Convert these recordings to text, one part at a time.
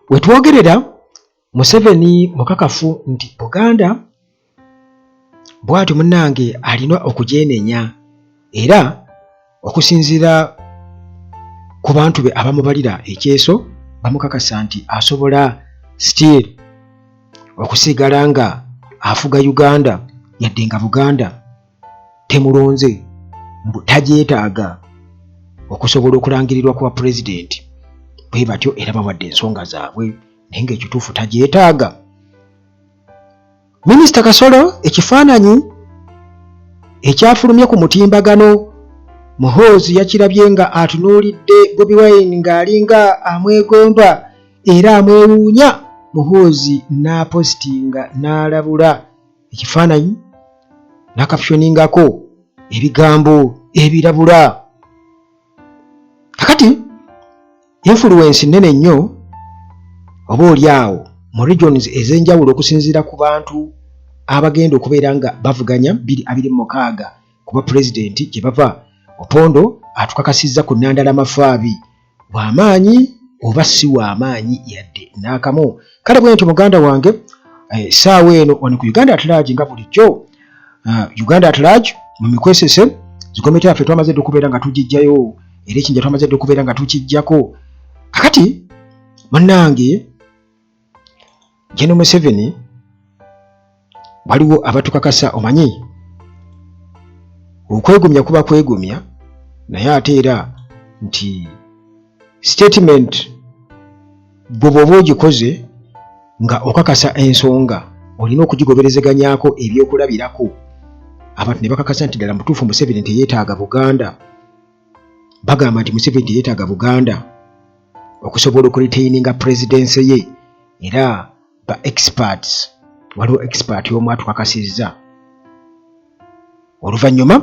wetwogerera museveni mukakafu nti buganda bwatyo munange alina okujenenya era okusinziira ku bantu be abamubalira ekyeso bamukakasa nti asobola still okusigala nga afuga uganda yadde nga buganda temulonze mbu tagyetaaga okusobola okulangirirwa kwa pulezidenti bwe batyo era bawadde ensonga zaabwe naye ngaekituufu tagyetaaga minisita kasolo ekifaananyi ekyafulumye ku mutimbagano muhoozi yakirabye nga atunuulidde bobi wine ng'alinga amwegomba era amwewuunya muhoozi n'apositinga n'alabula na ekifaananyi nakapyoningako ebigambo ebirabula kakati influence nene nnyo oba oli awo mu regions ez'enjawulo okusinziira ku bantu abagenda okubeera nga bavuganya biri abiri mu mukaaga kuba pulezidenti gye bava opondo atukakasizza ku nandala mafaabi wa maanyi oba si wa maanyi yadde n'akamu kale bwe ntyo muganda wange essaawa eh, eno wano ku uganda atlaagi nga bulijjo ah, uganda atlaagi mu mikwesese zikomiti yaffe twamaze dde okubeera nga tugijjayo era ekinja twamaze dde okubeera nga tukijjako kakati bannange General Museveni waliwo abatukakasa omanyi okwegumya kuba kwegumya naye ate era nti statement gwe bwoba ogikoze nga okakasa ensonga olina okugigoberezeganyako ebyokulabirako abantu ne bakakasa nti ddala mutuufu museveni nti yeetaaga buganda bagamba nti museveni teyetaaga buganda okusobola okuritaininga purezidensy ye era ba experts waliwo expert omu atukakasizza oluvannyuma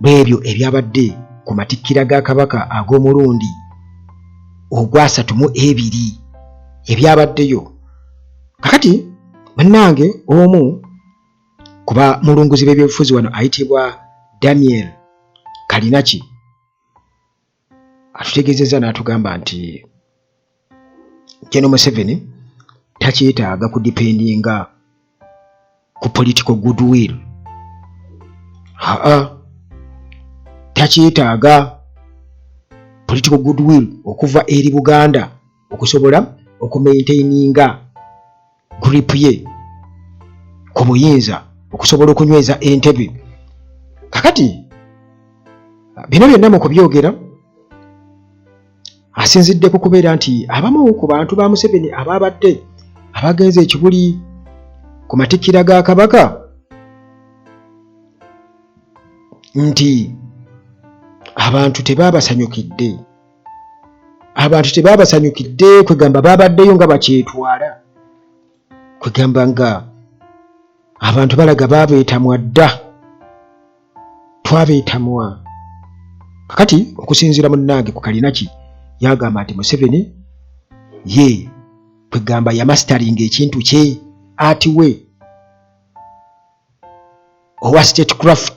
lw'ebyo ebyabadde ku matikkira ga kabaka ag'omulundi ogwasatu mu ebiri ebyabaddeyo kakati bannange omu kuba mulunguzi b'ebyobufuzi wano ayitibwa daniel kalinaki atutegeezezza n'atugamba nti jeno museveni takyetaaga kudipendinga ku political goodwill aa takyetaaga political goodwill okuva eri buganda okusobola okumaintaininga group ye ku buyinza okusobola okunyweza entebe kakati bino byonna mu kubyogera asinzidde ku kubeera nti abamu ku bantu ba museveni abaabadde abagenze ekibuli ku matikkira ga kabaka nti abantu tebaabasanyukidde abantu tebabasanyukidde kwegamba babaddeyo nga bakyetwala kwegamba nga abantu balaga babeetamwa dda twabeetamwa kakati okusinziira munnange ku kalinaki yagamba nti museveni ye kwegamba yamasteringa ekintu kye ati we owa state craft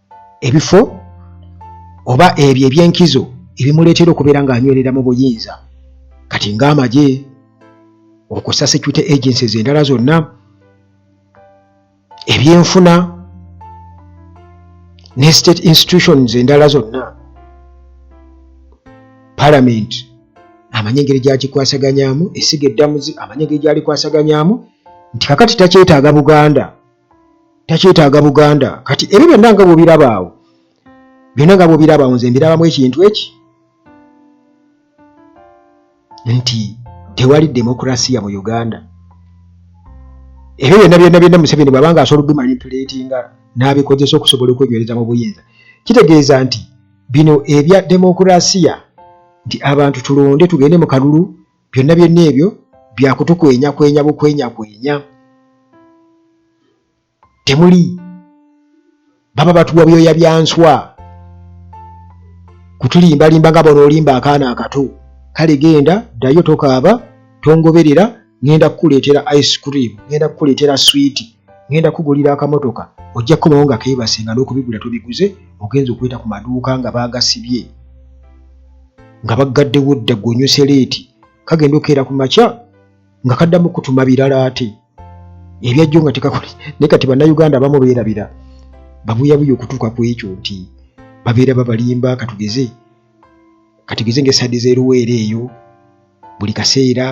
ebifo oba ebyo ebyenkizo ebimuleetera okubeera ng'anywerera mu buyinza kati ng'amagye okusa security agencies endala zonna ebyenfuna ne state institutions endala zonna parliament amanyi engeri gyakikwasaganyamu esiga eddamuzi amanyi engeri gyalikwasaganyaamu nti kakati takyetaaga buganda takyetaaga buganda kati ebyo byonna nga bwobirabaawo byonna nga bwobirabaawo nze mbirabamu ekintu eki nti tewali demokrasiya mu uganda ebyo byonna byonna byonna museveni bwabanga asobola okubimanipulatinga n'abikozesa okusobola okwenywereza mu buyinza kitegeeza nti bino ebya demokrasiya nti abantu tulonde tugende mu kalulu byonna byonna ebyo byakutukwenyakwenya bukwenyakwenya temuli baba batuwa byoya byanswa kutulimbalimba nga bona olimba akaana akato kale genda ddayo tokaaba tongoberera ŋenda kukuleetera ice cream ŋenda kukuleetera swiiti ŋenda kugulira akamotoka ojja kukomawo nga keebase nga n'okubigula tobiguze ogenza okweta ku maduuka nga baagasibye nga baggaddewo dda gwe onyuse leeti kagenda okeera ku makya nga kaddamu kutuma birala ate ebyajjo nga tekakole naye kati bannayuganda abamu beerabira babuyabuya okutuuka ku ekyo nti babeera babalimba katugeze katugeze ngaesaadi zeruweera eyo buli kaseera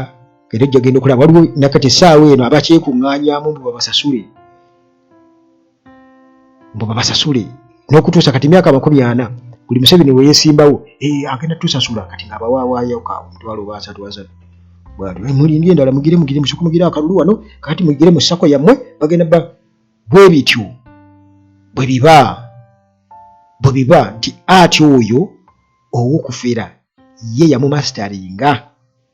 era ojja genda okulaba waliwo nakati essaawa eno abakyekuŋŋaanyamu mbu babasasule mbu babasasule n'okutuusa kati myaka amakumi ana buli museveni weyesimbawo eh, agenda tusasula kati nga bawawaayo ka omutwalo oba asatu asatu bwatyo eh, mulindye endala mugire mugire musoko mugire akalulu wano kati mugire mu sako yammwe bagenda ba bwe bityo bwe biba bwe biba nti ati oyo owokufera ye yamumasitaringa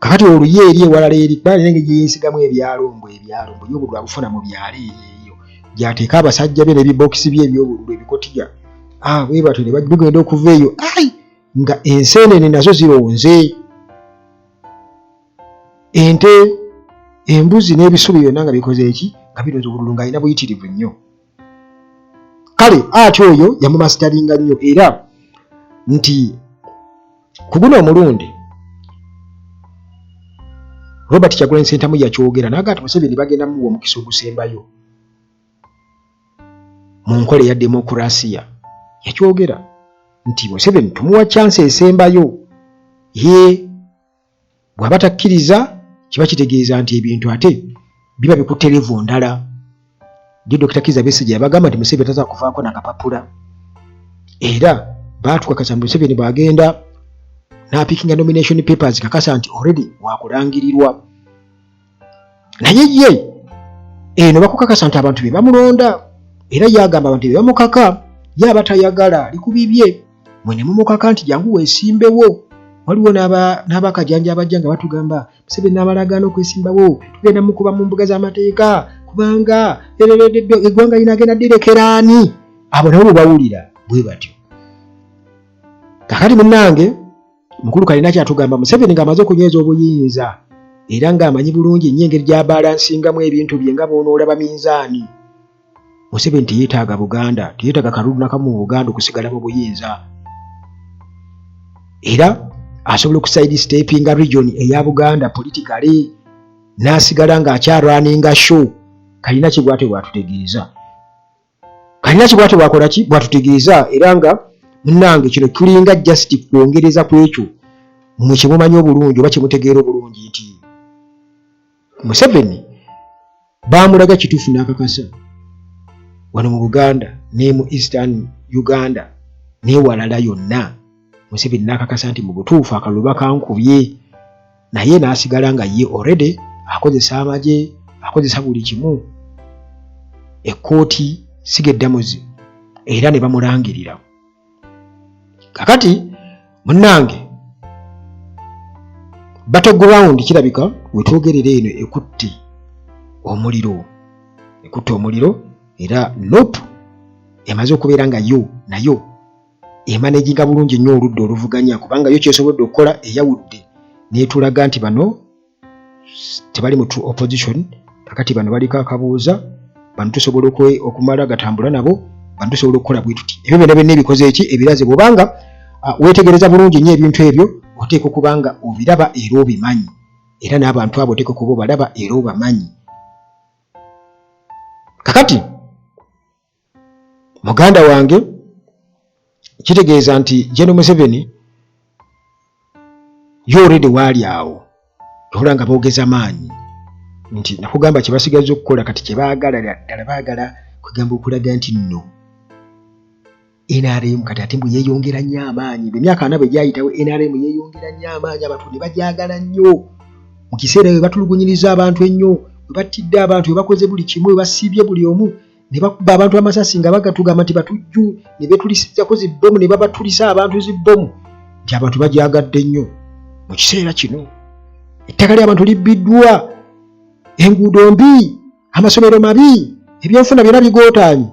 kakati oluye eri ewalala eri kuba alina engeri gyeyesigamu ebyalombo ebyalombo yobululu abufuna mu byalo eyo gyateeka abasajja be nebibokisi bye ebyobululu ebikotiga ah, bwe batyo ne bigenda okuva eyo ai nga enseenene nazo zironze ente embuzi n'ebisubi byonna nga bikoze eki nga bironze obululu nga alina buyitirivu nnyo kale ati oyo yamumasitaringa nnyo era nti ku guno omulundi robert kyagulanyi sentamu yakyogera naga nti museveni bagenda muwa omukisa ogusembayo mu nkola eya demokurasiya yakyogera nti museveni tumuwa kyansi esembayo ye bw'aba takkiriza kiba kitegeeza nti ebintu ate biba bikutte levu ndala ndi dokita kiza besigye yabagamba nti museveni taza kuvaako nakapapula era baatukakasa nti museveni bwagenda n'apikinga nomination papers kakasa nti already wakulangirirwa naye ye eno bakukakasa nti abantu bebamulonda era yagamba abantu bebamukaka yaba tayagala likubibye mwene mumukaka nti jangu wesimbewo waliwo n'abakajanja abajja nga batugamba musebe n'abalagaana okwesimbawo tugenda mukuba mu mbuga z'amateeka kubanga erereddo eggwanga linagenda direkeraani abo nabo bwebawulira bwe batyo kakati munange mukulu kalina kyatugamba museveni ng'amaze okunyweza obuyinza era ng'amanyi bulungi nnyo engeri gyabalansingamu ebintu bye nga boonoolaba minzaani museveni teyeetaaga buganda teyeetaaga kalulu nakamu mu buganda okusigala mu buyinza era asobola okusaidi stepinga region eya buganda politikale n'asigala ng'akyarwaninga show kalina kibwate bwatutegeeza kanyaki bwatyo bwakola ki bwatutegeeza era nga munange kino tulinga just kwongereza ku ekyo mwe kyemumanyi obulungi oba kyemutegeera obulungi nti museveni bamulaga kituufu n'akakasa wano mu buganda ne mu eastern uganda newalala yonna museveni n'akakasa nti mu butuufu akalulu bakankubye naye n'asigala nga ye already akozesa amagye akozesa buli kimu ekkooti siga eddamuzi era ne bamulangirira kakati munnange battleground kirabika wetwogerera eno ekutte omuliro ekutte omuliro era nope emaze okubeera nga yo nayo emanaginga bulungi nnyo oludda oluvuganya kubanga yo kyesobodde okukola eyawudde netulaga nti bano tebali mu true opposition kakati bano baliko akabuuza bano tusobola okumala gatambula nabo bano tusobola okukola bwetuti ebyo byona byonna ebikoze eki ebiraze bwobanga wetegereza bulungi nnyo ebintu ebyo oteeka okubanga obiraba era obimanyi era n'abantu abo oteeka okuba obalaba era obamanyi kakati muganda wange kitegeeza nti jeno museveni yo oredi waali awo ola nga boogeza maanyi nti nakugamba kyebasigaza okukola kati kyebaagala ddala baagala kwegamba okulaga nti nno nrm kati ate mbu yeyongera nnyo amaanyi bemyaka ana bwe gyayitawo nrm yeyongera nnyo amaanyi abantu ne bagyagala nnyo mu kiseera we batulugunyiriza abantu ennyo we battidde abantu we bakoze buli kimu we basiibye buli omu ne bakuba abantu amasasi nga bagatugamba nti batujju ne betulisizako zibbomu ne babatulisa abantu zibbomu nti abantu bagyagadde nnyo mu kiseera kino ettaka ly'abantu libbiddwa enguudo mbi amasomero mabi ebyenfuna byona bigootaanye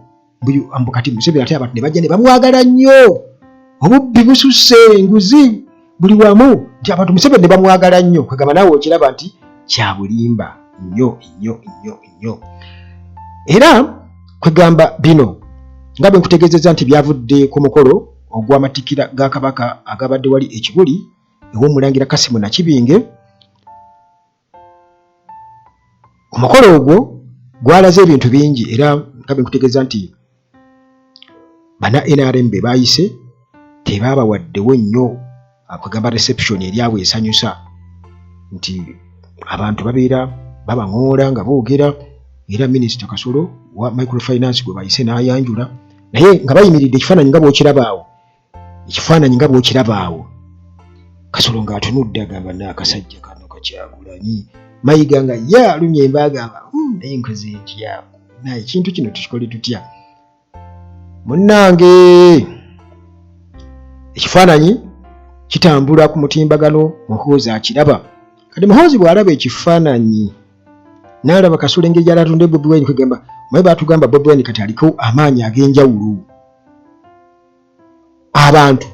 mbu kati museveni ate abantu ne bajja ne bamwagala nnyo obubbi bususse enguzi buli wamu nti abantu museveni nebamwagala nnyo kwegamba naawe okiraba nti kyabulimba nnyo nnyo nnyo nnyo era kwegamba bino nga bwe nkutegeezezza nti byavudde ku mukolo ogw'amatikira ga kabaka agabadde wali ekibuli ew'omulangira kasimu nakibinge omukolo ogwo gwalaze ebintu bingi era nga bekutegeeza nti bana nrm be baayise tebaabawaddewo nnyo akugamba ah, reception eryabwe esanyusa nti abantu babeera babaŋoola nga boogera era minisita kasolo wa microfinance gwe bayise n'ayanjula naye nga bayimiridde ekifaananyi nga bwokirabaawo ekifaananyi nga bw'okiraba awo kasolo ng'atunudde agamba na akasajja kano kakyagulanyi mayiga nga ye alumya emba agamba hmm, naye nkoze ntya naye ekintu kino tukikole tutya munnange ekifaananyi kitambula ku mutimbagano muhoozi akiraba kati muhoozi bw'alaba ekifaananyi n'alaba kasolo engeri gyali atunde bobi wine kwegamba maye baatugamba bobi wine kati aliko amaanyi ag'enjawulo abantu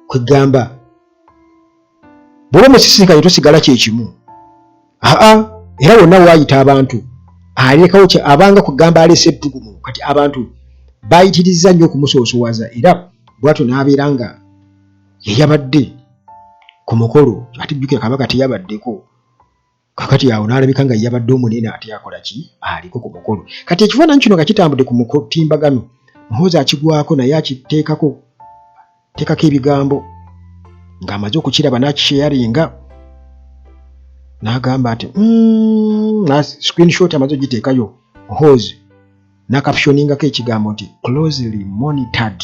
kwegamba bwoba omusisinkanye tosigala kyekimu aa era wonna waayita abantu alekawo kye abanga kugamba aleese ettugumu kati abantu bayitirizza nnyo okumusoosowaza era bwatyo n'abeera nga yeyabadde ku mukolo ate jjukira kabaka teyabaddeko kakati awo n'alabika nga yabadde omunene ate akola ki aliko ku mukolo kati ekifaananyi kino nga kitambudde ku mutimbagano muhoozi akigwako naye akiteekako teekako ebigambo ng'amaze okukiraba n'akisheyaringa n'agamba nti mm, screenshot amaze ogiteekayo muhoozi nakapshoningako ekigambo nti closely monitored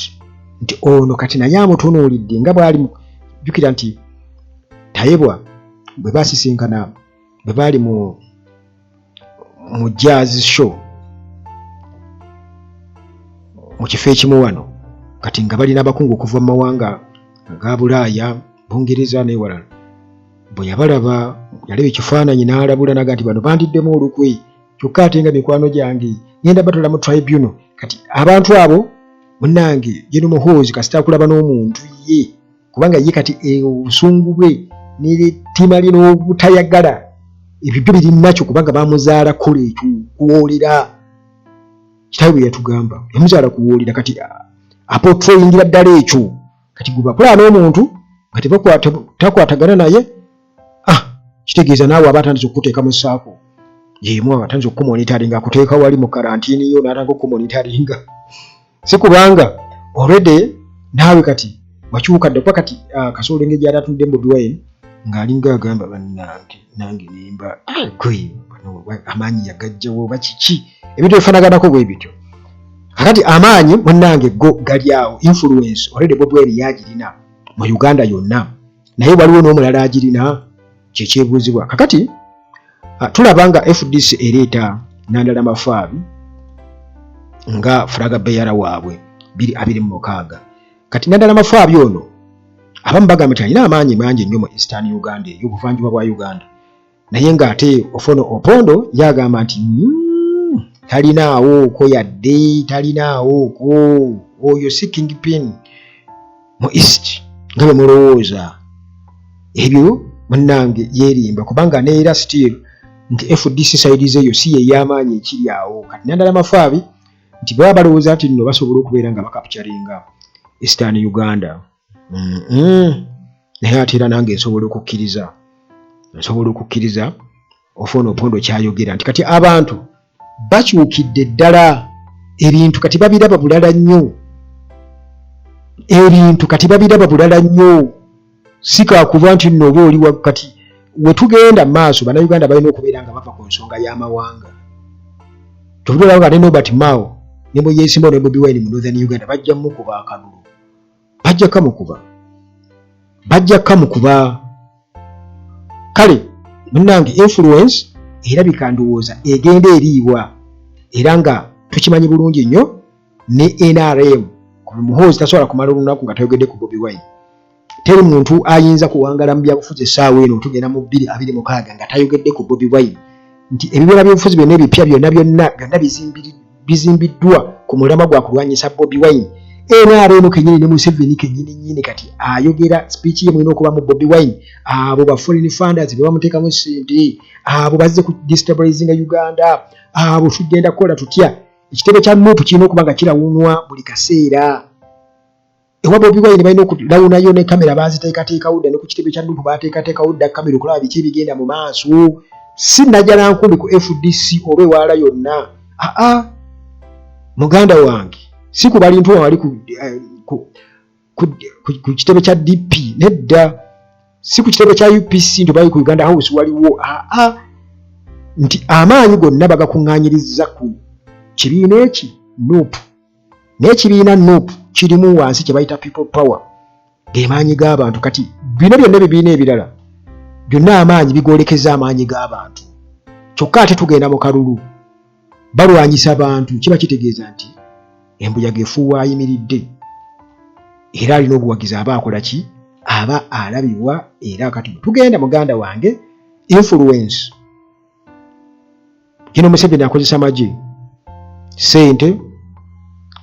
nti ono kati naye amutunuulidde nga bwali jukira nti tayebwa bwe basisinkana bwe baali mu mu jazz show mu kifo ekimu wano kati nga balina abakungu okuva mu mawanga aga bulaaya bungereza newalala bwe yabalaba yalaba ekifaananyi n'alabula naga nti bano bandiddemu olukwe kyokka ate nga mikwano gyange ngenda batwala mu tribunal kati abantu abo munange geno muhoozi kasita akulaba n'omuntu ye kubanga ye kati eh, obusungu bwe netima lye n'obutayagala ebyo byo birinakyo kubanga bamuzaala kola ekyo kuwoolera kitawe bwe yatugamba yamuzaala kuwoolera kati ah, apotrayingira ddala ekyo kati gwe bakulaba n'omuntu nga takwatagana naye ah kitegeeza naawe aba atandise okukuteeka mu saako yemu aba atandise okukumonitaringa akuteeka wali mu karantini yo n'atandika okukumonitaringa si kubanga olwedde naawe kati wakyuka dde kuba kati ah, kasoolo engeri gyali atunudde mu dwayini ng'alinga agamba bannange nange nimba gwe amaanyi yagajjawo oba kiki ebintu bifanaganako bwe bityo kakati amaanyi munnange go gali awo influence olwedde bobi wayini yagirina mu uganda yonna naye waliwo n'omulala agirina kyekyebuuzibwa kakati tulaba nga fdc ereeta nandala mafaabi nga furaga beyara waabwe biri abiri mu mukaaga kati nandala mafaabi ono abamu bagamba nti alina amaanyi mangi nnyo mu eastern uganda eyo obuvanjuba bwa uganda naye ng'ate ofono opondo yagamba nti mm, talinaawo oko yadde talinaawo oko oyo si king pin mu east nga bwe mulowooza ebyo munnange yerimba kubanga neera still nti fdc saidi zeeyo si yeyamaanyi ekiri awo kati nandala mafaabi nti baba balowooza nti nno basobola okubeera nga bakapcaringa eastern uganda naye ate era nange nsobola okukkiriza nsobola okukkiriza ofaona opondo kyayogera nti kati abantu bakyukidde ddala ebintu kati babiraba bulala nnyo ebintu kati babiraba bulala nnyo sikakuba nti nno oba oli wakati wetugenda maaso banauganda balina okubeera nga bava ku nsonga y'amawanga tubulaba nga ne nobert mao ne muyesimba ne bobi wine mu northern uganda bajja mukuba akalulu bajja kamukuba bajja kamukuba kale munange influence era bikandowooza egenda eriibwa era nga tukimanyi bulungi nnyo ne nrm muhoozi tasobola kumala olunaku nga tayogedde ku bobi wine teri muntu ayinza kuwangala mu byabufuzi essaawa eno tugenda mu bbiri abiri mukaaga nga tayogedde ku bobi wine nti ebibiina byobufuzi byonna ebipya byonna byonna byonna bizimbiriddwa bizimbiddwa ku mulamwa gwa kulwanyisa Bobi Wine. NRM kenyini ne Museveni kenyini nyini kati ayogera speech ye mwino okuba mu Bobi Wine abo ba foreign funders be bamuteka mu sente abo bazze ku destabilizing Uganda abo tugenda kola tutya ekitebe kya MOP kino kubanga kira wunwa buli kaseera ewa bobi wine balina okulawunayo ne kamera baziteekateekawo dda ne ku kitebe kya nupu bateekateekawo dda kamera okulaba biki ebigenda mu maaso si najala nkumbi ku fdc oba ewaala yonna aa muganda wange si ku balintu wali ku eh, kitebe kya dp nedda si ku kitebe kya upc nti bali ku uganda house waliwo aa nti amaanyi gonna bagakuŋŋanyiriza ku kibiina eki nupu naye ekibiina nup kirimu wansi kye bayita people power gemaanyi g'abantu kati bino byonna ebibiina ebirala byonna amaanyi bigolekeza amaanyi g'abantu kyokka ate tugenda mu kalulu balwanyisa bantu kiba kitegeeza nti embuyaga efuuwa ayimiridde era alina obuwagizi aba akola ki aba alabibwa era kati tugenda muganda wange influence yino museveni akozesa magye sente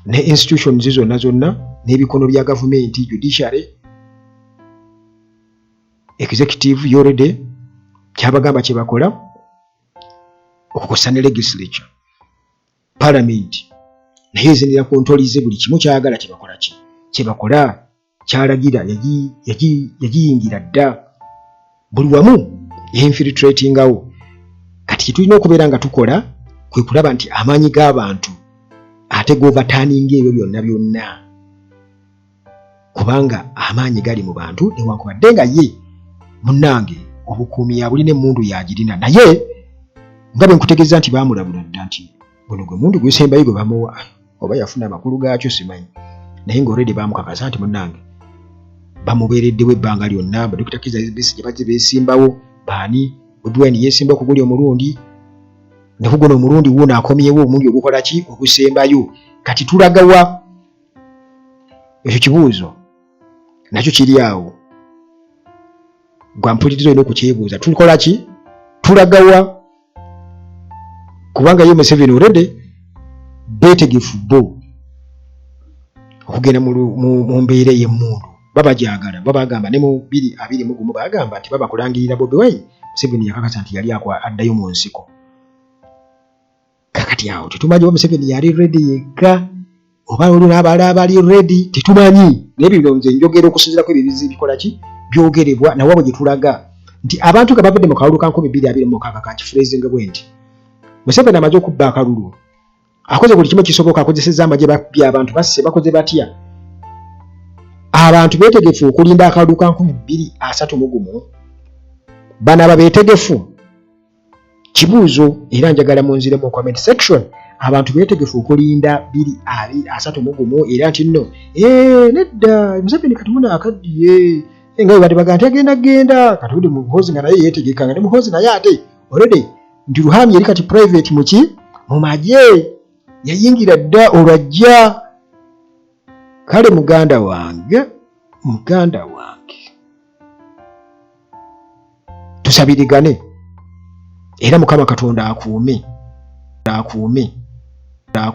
ne institutions zonna zonna n'ebikono bya gavumenti judiciary executive yorede kyabagamba kyebakola okukosa ne legislature parliament naye ezinira ku ntolize buli kimu kyagala kyebakola ki kyebakola kyalagira yagiyingira dda buli wamu yeinfiltratingawo kati kyetulina okubeera nga tukola kwe kulaba nti amaanyi g'abantu ate govataaninga ebyo byonna byonna kubanga amaanyi gali mu bantu newankubadde nga ye munnange obukuumi yabuli n'emmundu yagirina naye nga bwe nkutegeeza nti baamulabula dda nti guno gwe mundu gusembayo gwe bamuwa oba yafuna amakulu gaakyo simanyi naye nga olredi bamukakasa nti munange bamubeereddewo ebbanga lyonna badokita kiza gye bazze beesimbawo baani odwine yeesimba okuguli omulundi ne kuguno omulundi wuuno akomyewo omulundi ogukola ki ogusembayo kati tulagawa ekyo kibuuzo nakyo kiri awo gwampuliriza olina okukyebuuza tukola ki tulagawa kubanga ye museveni orede betegefu bo okugenda mu mbeera ey'emmundu babagyagala babagamba ne mu biri abiri mu gumu bagamba nti babakulangirira bobi wine museveni yakakasa nti yali akwa addayo mu nsiko kakati awo tetumanyi oba museveni yali redi yekka oba olulabala abali redi tetumanyi naye bino nze njogera okusinzirako ebyo bizi bikola ki byogerebwa nawe abo gyetulaga nti abantu nga bavudde mu kalulu ka nkumi bbiri abiri mukaaga ka kifurezinga bwe nti museveni amaze okubba akalulu akoze buli kimu kisoboka akozeseza amagye babbye abantu basse bakoze batya abantu betegefu okulinda akalulu ka nkumi bbiri asatu mugumu bano aba betegefu kibuuzo era njagala munziremu mu comment section abantu betegefu okulinda biri ali asatu mu gumu era nti nno eh, nedda museveni kati muna akaddiye eh, nga webadde baga nti agenda genda kati uli muhozi nga naye yetegeka nga ne muhozi naye ate olede nti ruhami yali kati private muki mu magye yayingira dda olwajja kale muganda wange muganda wange tusabirigane era mukama katonda akuume akuume